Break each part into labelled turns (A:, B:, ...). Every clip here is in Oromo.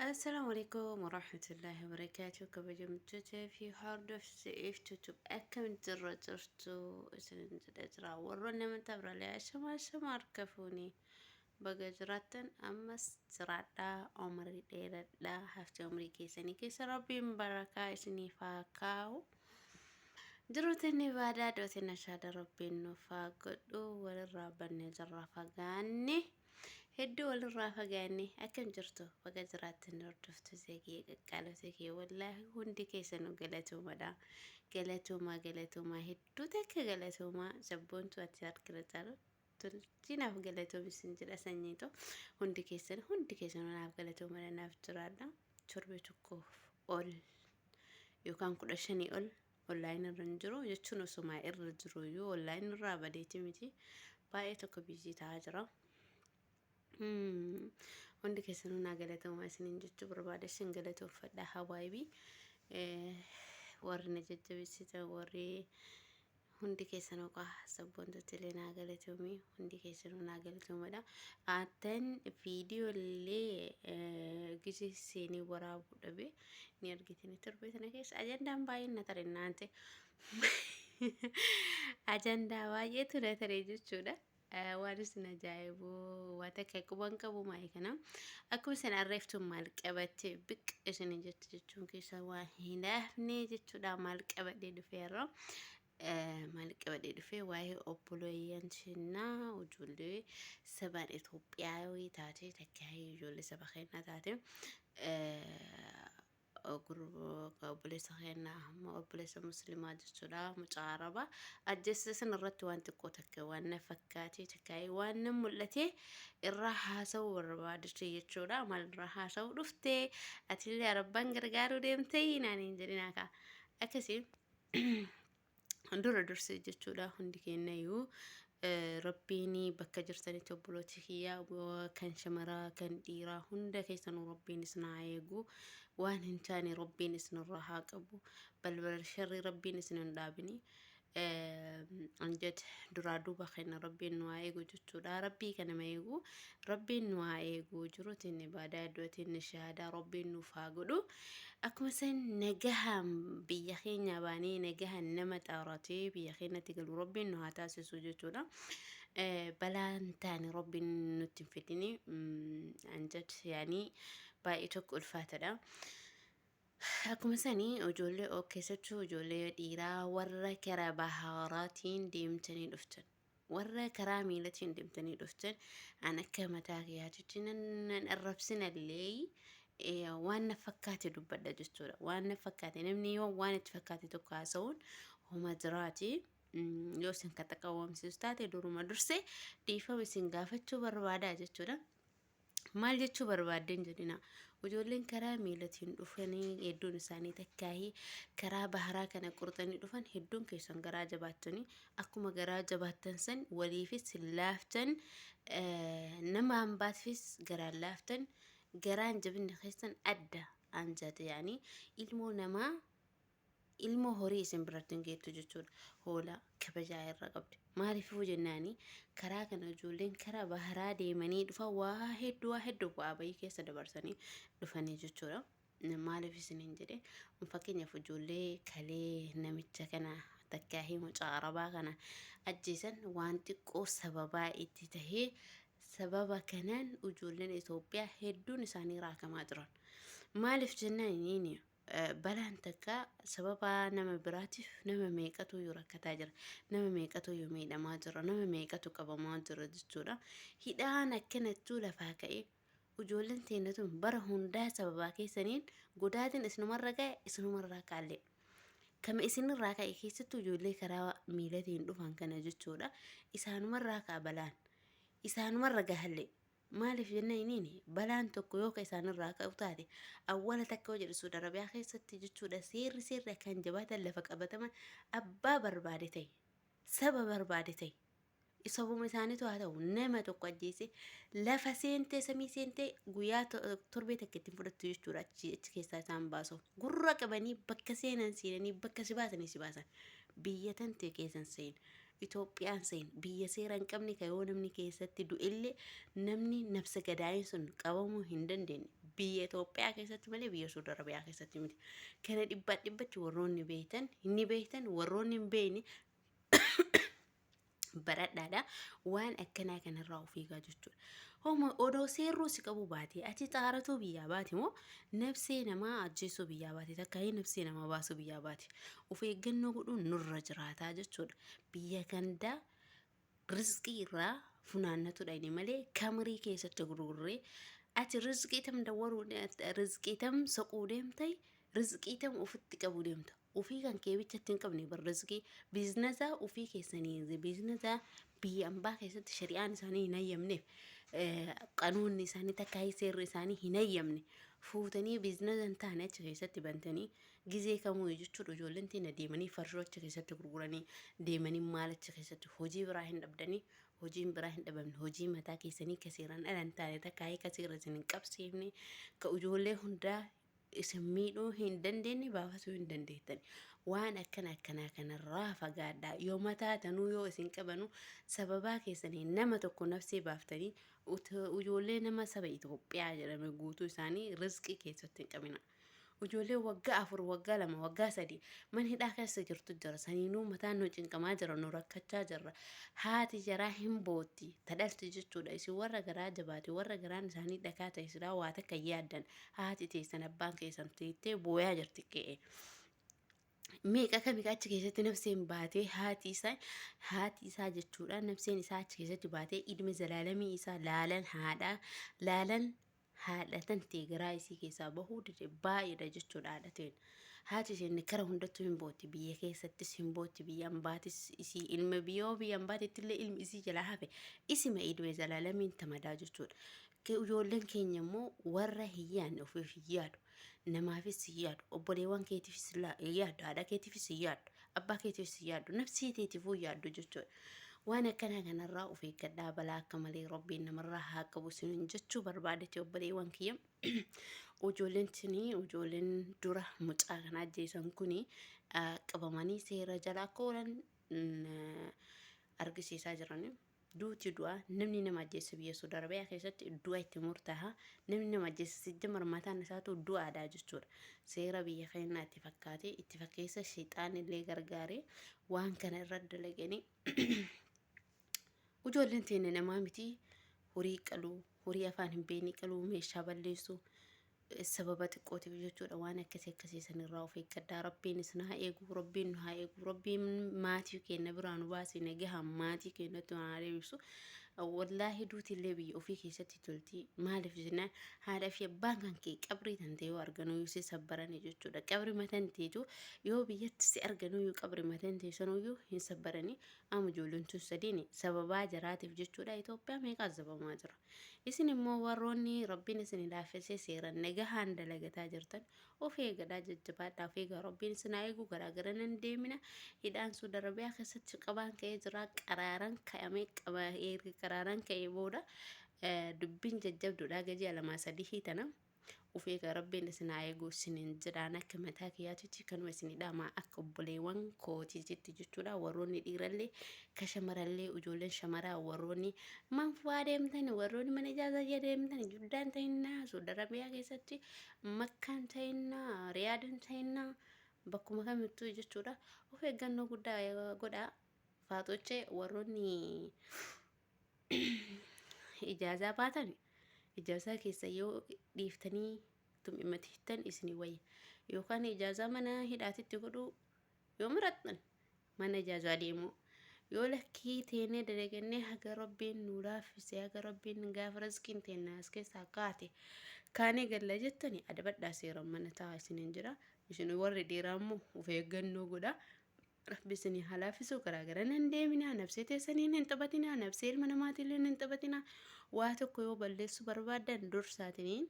A: Assalamu alaikum warahmatullahi wabarakatuh kabajamtoota fi hordoftoota iftutu akkam jirra jirtu isin jedha jira warroonni amantaa birallee ashama ashama harka fuuni baga jiraattan ammas jiraadhaa umrii dheeradhaa hafte umrii keessanii keessa rabbiin barakaa isiniif haa kaa'u jiruutiin ibaadaa dootiin ashaada rabbiin nuuf haa godhu walirraa bannee jirra fagaanne. Hedduu walirraa fagaanne akkam jirtu baga jiraattan hordoftu seekee qaqqaalota kee wallaahi hundi keessanuu galatoomadha. Galatoomaa galatoomaa hedduu takka galatoomaa sabboontu ati harkira caalu tolchinaaf galatoomi sin jedha sanyiito hundi keessan hundi keessanuu naaf galatoomadha naaf jiraadha torbee tokkoof ol yookaan kudha shanii ol online irra hin jiru jechuun osumaa irra jiru iyyuu online irraa badeeti miti baay'ee tokko biizii ta'aa jira. Hundi keessanuu naa galatoomaa isiniin jechuu barbaada isin galatoomfadha hawaayibii warri na jajjabeessitan warri hundi keessanuu qaa sabboontotti illee naa galatoomii hundi keessanuu naa galatoomadha. Attan viidiyoo illee gisee seenee waraabuu dhabee ni argitini torbee sana keessa ajandaan baay'een na tare naante ajandaa baay'eetu na tare jechuudha. Waan isin ajaa'ibu waan takka quban qabu maa'e kana akkuma isin arreeftu maal qabatte biq isin jettu jechuun keessaa waan hin hafne jechuudha maal qabadhee dhufeerra. Maal qabadhee dhufee waa'ee obboleeyyan keenyaa ijoollee sabaan Itoophiyaawii taatee takka ijoollee saba keenyaa taate obboleessa keenyaa amma obboleessa musliimaa jechuudha mucaa arabaa ajjeessa san irratti waan xiqqoo takka waan na fakkaatee takka waan na mul'ate irraa haasa'uu barbaadde jechuudha maal irraa haasa'uu dhufte atillee arabbaan gargaaruu deemtee naaniin jedhinaa kaa akkasii. dura dursee jechuudha hundi keenyayyuu rabbiin bakka jirtanitti obbolooti kiyya kan shamaraa kan dhiiraa hunda keessanuu rabbiin isin haa eegu waan hin taane rabbiin isinirraa haa qabu balbala sharri rabbiin isin hin dhaabini anjet duraa duuba keenya rabbiin nu haa eegu jechuudha rabbii kana ma eegu rabbiin nu haa eegu jiruutiin ibaadaa iddootiin shahaadaa rabbiin nuuf haa godhu Akkuma san nagahaan biyya keenyaa baanee nagahaan nama xaaratee biyya keenyatti galu rabbiin nu haa taasisu jechuudha. Eh, Balaan taane rabbiin nutti hin fidini. Mm, Anjad yaanii baay'ee tokko ulfaatadha. Akkuma sanii ijoollee oo keessattuu ijoollee dhiiraa warra kara bahaaraatiin deemtanii dhuftan. Warra karaa miilatiin deemtanii dhuftan an akka mataa kiyyaatitti nan nan arrabsinallee eh, waan na fakkaate dubbadha jechuudha. Waan na fakkaate namni yoo waan itti fakkaate tokko haasa'uun homa jiraati. Mm, Yoo isin kan xaqawwamsiisu taate duruma dursee dhiifama isin gaafachuu barbaadaa jechuudha. Maal jechuu barbaaddeen jedhina. Ijoolleen karaa miilatiin dhufanii hedduun isaanii takkaahii karaa baharaa kana qurxanii dhufan hedduun keessan garaa jabaattanii akkuma garaa jabaattan san waliifis hin laaftan nama hambaatfis garaan laaftan garaan jabinni keessan adda anjate yaanii ilmoo namaa ilmoo horii isin biratti hin geettu jechuudha. Hoolaa kabajaa irra qabdi. Maaliifuu jennaani karaa kana ijoolleen karaa baharaa deemanii dhufan waa hedduu waa hedduu bu'aa bayii keessa dabarsanii dhufanii jechuudha. Maaliif isiniin jedhe fakkeenyaaf ijoollee kalee namicha kana takkaa hii mucaa arabaa kana ajjeesan waan xiqqoo sababaa itti tahee sababa kanaan ijoolleen Itoophiyaa hedduun isaanii raakamaa jiran. Maaliif jennaani Balaan takka sababa nama biraatiif nama meeqatuyyuu rakkataa jira. Nama meeqatuyyuu miidhamaa jira. Nama meeqatu qabamaa jira jechuudha. Hidhaan akkanattuu lafaa ka'ee ijoolleen teenya tun bara hundaa sababaa keessaniin godaatiin isinumarra ga'e isinumarraa kaallee. Kama isinirraa ka'e keessattuu ijoollee karaa miilatiin dhufan kana jechuudha. Isaanumarraa ka'a balaan. Isaanumarra gahallee. Maaliif jennaan iniin balaan tokko yoo ka isaan irraa ka'u taate awwala takka yoo jedhu Suud Arabiyaa keessatti jechuudha seerri seerri akkaan jabaatan lafa qabatama abbaa barbaade ta'e saba barbaade ta'e sabuma isaaniitu haa ta'u nama tokko ajjeese lafa seentee samii seentee guyyaa to- torbee takka ittiin fudhattu jechuudha achi achi keessaa isaan baasu gurra qabanii bakka seenan seenanii bakka si baasanii si baasan biyya tantee keessan seen Itoophiyaan seen biyya seera hin qabne ka yoo namni keessatti du'ellee namni nabse gadaayin sun qabamuu hin dandeenye biyya Itoophiyaa keessatti malee biyya Suud Arabiyaa keessatti miti. Kana dhibbaa dhibbatti warroonni beektan ni beektan warroonni hin beekne baradhaadha waan akkanaa kanarraa of eegaa jechuudha. Homa odoo seerruu si qabuu baatee ati xaaratuu biyyaa baate moo nabsee namaa ajjeesuu biyyaa baate takkaayee nabsee namaa baasuu biyyaa baate of eeggannoo godhuun nurra jiraataa jechuudha. Biyya gandaa rizqii irraa funaannatudha inni malee kamirii keessatti gurgurree ati rizqii tam dawwaruu rizqii tam soquu deemtai rizqii tam ofitti qabuu deemta. ufii kan kee bichatti hin qabne bar rizqii biiznasa ufii keessanii biiznasa biyya ambaa keessatti shari'aan isaanii hin hayyamneef eh, qanuunni isaanii takka seerri isaanii hin hayyamne fuutanii biiznasa hin taane achi keessatti bantanii gizee kamuu jechuudha ijoolleen tiin deemanii farshoo achi keessatti gurguranii deemanii maal achi keessatti hojii biraa hin dhabdanii hojiin biraa hin dhabamne hojii mataa keessanii ka seeraan ala hin taane takka ka seerra isin hin qabsiifne ka ijoollee hundaa isin miidhuu hin dandeenye baafasuu hin dandeettani. Waan akkana akkanaa kanarraa fagaadhaa. Yoo mataa tanuu yoo isin qabanu sababaa keessanii nama tokko nafsee baaftanii ijoollee nama saba Itoophiyaa jedhame guutuu isaanii rizqii keessatti hin qabina. Ijoollee waggaa afur, waggaa lama, waggaa sadii mana hidhaa keessa jirtu jira. Saniinuu mataan nu cinqamaa jira, nu rakkachaa jirra. Haati jaraa hin bootti, tadhalti jechuudha. Isin warra garaa jabaate, warra garaan isaanii dhakaa ta'e silaa waa takka yaaddan. Haati teessan abbaan keessan teettee booyaa jirti qe'ee. Meeqa kami achi keessatti nafseen baatee haati isaa haati isaa jechuudha nafseen isaa achi keessatti baatee idime zalaalamii isaa laalan haadha laalan haadha tan ta'e garaa isii keessaa bahuu dide baay'eedha jechuudha haadha ta'een. Haati isheen kara hundattuu hin booti biyya keessattis hin booti biyya ambaatis isii ilma biyyoo biyya ambaatetti illee ilmi isii jalaa hafe isima idime zalaalamiin tamadaa jechuudha. Ke ijoolleen keenya immoo warra hin yaadne ofiif hin yaadu. Namaafis hin yaadu. Obboleewwan keetiifis la- hin yaadu. Haadha keetiifis hin yaadu. Abbaa keetiifis hin yaadu. Nafsee teetiifuu hin yaadu jechuudha. Waan akkanaa kanarraa of eeggadhaa balaa akka malee rabbiin namarraa haa qabu isiniin jechuu barbaadeti obboleewwan kiyya. Ijoolleen tuni ijoolleen dura mucaa kana ajjeesan kuni ah, qabamanii seera jala akka oolan mm, argisiisaa jiranii. Duuti du'a, namni nama ajjeesse biyya Saudi Arabia keessatti du'a itti murtaaha. Namni nama ajjeesse sijjamar mataan isaatu du'aadha jechuudha. Seera biyya keenyaa itti fakkaatee itti fakkeessa sheexaan illee gargaaree waan kana irra dalaganii ujoolleen teenne namaa miti horii qaluu horii afaan hin beekne qaluu meeshaa balleessuu sababa xiqqootiif jechuudha waan akkasii akkasii sanirraa of eeggadhaa rabbiin isin haa eegu rabbiin nu haa eegu rabbiin maatii keenya biraa nu baasee nagahaan maatii keenyatti nu haa deebisu wallaahi duuti illee biyya ofii keessatti tolti maaliif jennaan haadha fi abbaan kan kee qabrii tan ta'e yoo arganuu yoo si sabbaranii jechuudha qabri matan teetu yoo biyyatti si arganuu yoo qabri matan ta'e sanuu yoo hin sabbaranii amma ijoolleen tun sadiin sababaa jaraatiif jechuudha Itoophiyaa meeqaa sababamaa jira. Isin immoo warroonni Rabbiin isin laaffisee seeran nagahaan dalagataa jirtan of eegadhaa jajjabaadhaa of eegaa Rabbiin isin haa eegu garaa gara nan deemina hidhaan Suud Arabiyaa keessatti qabaan ka'ee jira qaraaran ka'amee qaba erga qaraaran ka'ee booda eh, dubbiin jajjabduudha gajii alamaa sadihii tana Of eegaa rabbiin isin haa eegu isiniin jedhaan akka mataa kiyyaatitti kanuma isinii dhaamaa akka obboleewwan kootiititti jechuudha warroonni dhiirallee ka shamarallee ijoolleen shamaraa warroonni man fu'aa deemtan warroonni mana ijaarsaa jee deemtan juddaan ta'innaa soodara biyyaa keessatti makkaan ta'innaa riyaadan ta'innaa bakkuma kamittuu jechuudha of eeggannoo guddaa godhaa faaxochee warroonni ijaazaa baatan ijaazaa keessa yoo dhiiftanii tum'imatiiftan isin wayya yookaan ijaazaa mana hidhaatitti godhuu yoo murattan mana ijaazaa deemuu yoo lakkii teenee dalagannee haga rabbiin nu laaffise haga rabbiin gaafa rizqiin teennaa as keessaa kaate kaanee galla jettani adabadhaa seeran mana taa isinin jira isin warri dhiiraa immoo of eeggannoo godhaa Rabbi isinii haa laafisuu karaa garan hin deeminaa nabsee teessaniin hin taphatinaa nabsee ilma namaatiilleen hin taphatinaa waa tokko yoo balleessuu barbaaddan dursaatiniin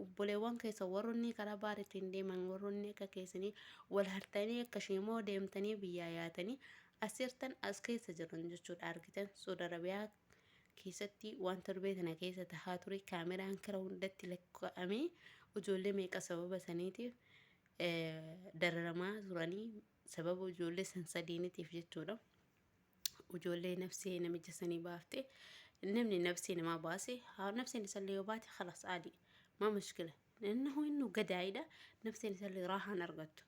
A: obboleewwan keessa warronni karaa baaritiin deeman warronni akka keessanii wal hartanii akka sheemoo deemtanii biyyaa yaatanii asirtan as keessa jiran jechuudha argitan Saudi Arabiyaa keessatti waan torbee tana keessa tahaa ture kaameraan kara hundatti lakkaa'amee ijoollee meeqa sababa saniitiif dararamaa turanii Sababa ijoollee san sadiinitiif jechuudha. Ijoollee nafsee namicha sanii baafte. Namni nafsee namaa baase haa nafseen isallee yoo baate khalas aadi. Maa mushkila. Innahu innu gadaayidha. Nafseen isallee raahaan argattu.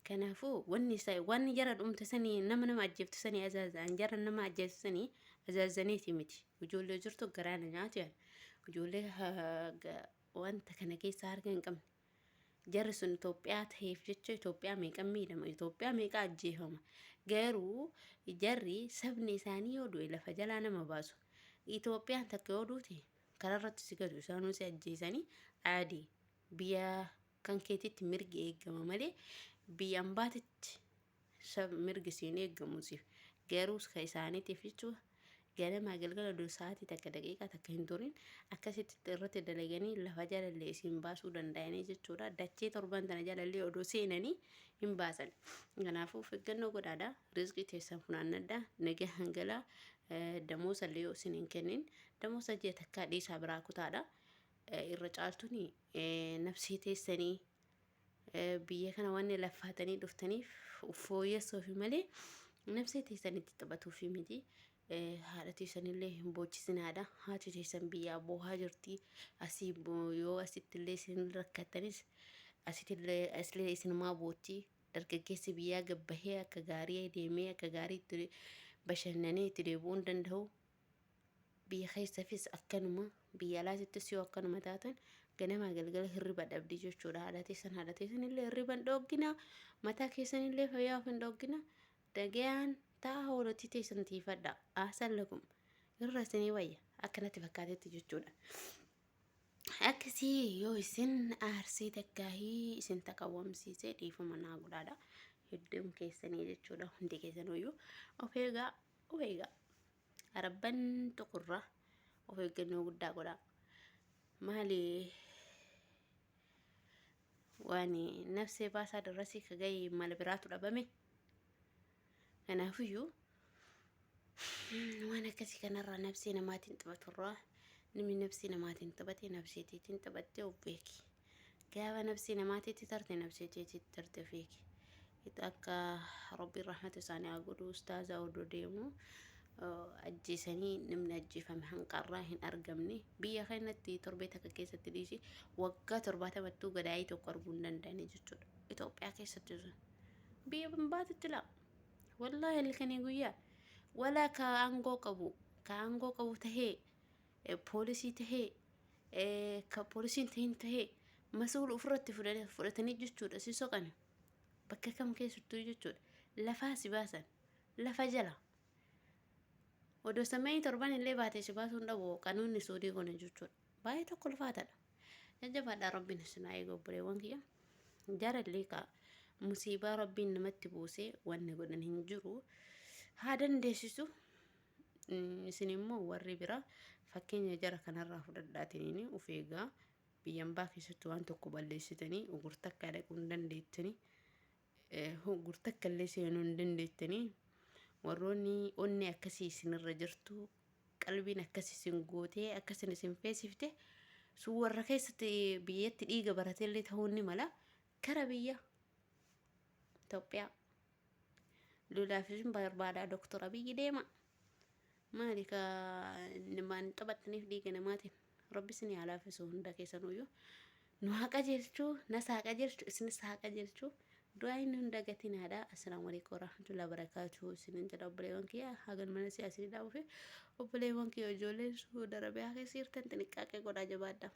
A: Kanaafuu wanni isa wanni jara dhumte sanii nama nama ajjeeftu sanii azaazaan jara nama ajjeeftu sanii azaazaniiti miti. Ijoollee jirtu garaana nyaatu yaala. Ijoollee ha- ga- wanta kana keessaa harka hin qabne. Jarri sun Itoophiyaa ta'eef jecha Itoophiyaa meeqan miidhama, Itoophiyaa meeqa ajjeefama. Garuu jarri sabni isaanii yoo du'e lafa jalaa nama baasu. Itoophiyaan takka yoo duute karaarratti si gatu isaanuu si ajjeesanii aadi biyya kan keetitti mirgi eegama malee biyya ambaatitti sab mirgi siin eeggamu siif garuu ka isaaniitiif jechuudha ganamaa galgala dur sa'aatii takka daqiiqaa takka hin turin akkasitti irratti dalaganii lafa jalallee isiin baasuu danda'anii jechuudha dachee torban tana jalallee odoo seenanii hin baasan kanaafuu of eeggannoo godhaadha rizqii teessan funaannadha nagaa hangalaa damoosa illee yoo isin hin kennin damoosa ji'a takkaa dhiisaa biraa kutaadha irra caaltuni nafsii teessanii biyya kana waan laffaatanii dhuftaniif fooyyessuufi malee nabsee teessan itti taphatuufi miti. Haadha teessanillee hin boochisinaadha. Haati teessan biyyaa boohaa jirti. Asii yoo asittillee isin rakkattanis asitillee asilee isinumaa bootti. Dargaggeessi biyyaa gabbahee akka gaarii deemee akka gaarii itti bashannanee itti deebi'uu hin danda'u. Biyya keessafis akkanuma, biyya alaatittis yoo akkanuma taatan ganamaa galgala hirriba dhabdi jechuudha. Haadha teessan haadha teessan illee hirriba hin dhooggina, mataa keessan illee fayyaa of hin dhooggina. Dagayaan ta'a hoolatti teessan tiifadha. Aasan lakum irra isinii wayya akkanatti fakkaatetti jechuudha. Akkasii yoo isin aarsee takkaahii isin taqawwamsiisee dhiifama naa godhaadha. Hedduun keessanii jechuudha hundi keessanuu iyyuu of eegaa of eegaa arabban tuqurraa of eeggannoo guddaa godhaa maali waan nafsee baasaa darrasii ka ga'e mala biraatu dhabame kanaafiyyuu waan akkasii kanarraa nafsee namaatiin taphaturraa namni nafsee namaatiin taphate nafseetiitiin taphattee of beeki. Gaafa nabsii namaa titti tarte nabsii tee titti tarte fiiki. Itu akka Rabbiin rahmata isaanii haa godhu ustaazaa odoo deemu ajjeesanii namni ajjeefame hanqarraa hin argamne biyya keenyatti torbee takka keessatti dhiisi waggaa torbaatamattuu gadaayii tokko arguu hin danda'anii jechuudha. Itoophiyaa keessatti sun biyya baatutti laa wallaahi halkanii guyyaa walaa ka aangoo qabu ka aangoo qabu tahee poolisii tahee ka poolisii hin tahin tahee masuula ofirratti fudhatanii jechuudha si soqani bakka kam keessattuu jechuudha lafaa si baasan lafa jala odoo sammayii torban illee baatee si baasuun dhabu qanoonni suudii kun jechuudha baay'ee tokko ulfaataadha jajjabaadhaa rabbiin isinaa eega obboleewwan kiyya jarallee ka musiibaa rabbiin namatti buusee wanni godhan hin jiru haa dandeessisu Isin immoo warri biraa fakkeenya jara kanarraa fudhadhaatiniin of eegaa biyya ambaa keessatti waan tokko balleessitanii gurtakkaa dhaquu hin dandeettanii gurtakka illee seenuu hin dandeettanii warroonni onni akkasii isinirra jirtu qalbiin akkas isin gootee akkasin isin feesifte sun warra keessatti biyyatti dhiiga baratellee ta'uu ni mala kara biyya Itoophiyaa Lolaaf isin barbaadaa doktora biyyi deema. Maali ka namaan taphattaniif dhiiga namaatiin rabbi isin haa laaffisu hunda keessanuyyuu. Nu haa qajeelchu, nas haa qajeelchu, isinis haa qajeelchu. Du'aayin nu hin dagatinaadha. Assalaamu alaikum warahmatullahi wabarakatuhu. Isinin jedha obboleewwan kiyya hagan mana siyaasii dhaabuufi obboleewwan kiyya ijoolleen suuda rabiyaa keessa jirtan xiniqqaaqee godhaa jabaadha.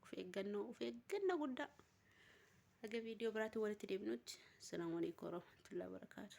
A: Of eeggannoo, of eeggannoo guddaa. Haga viidiyoo biraatiin walitti deebinutti. Assalaamu alaikum warahmatullahi wabarakaatuh.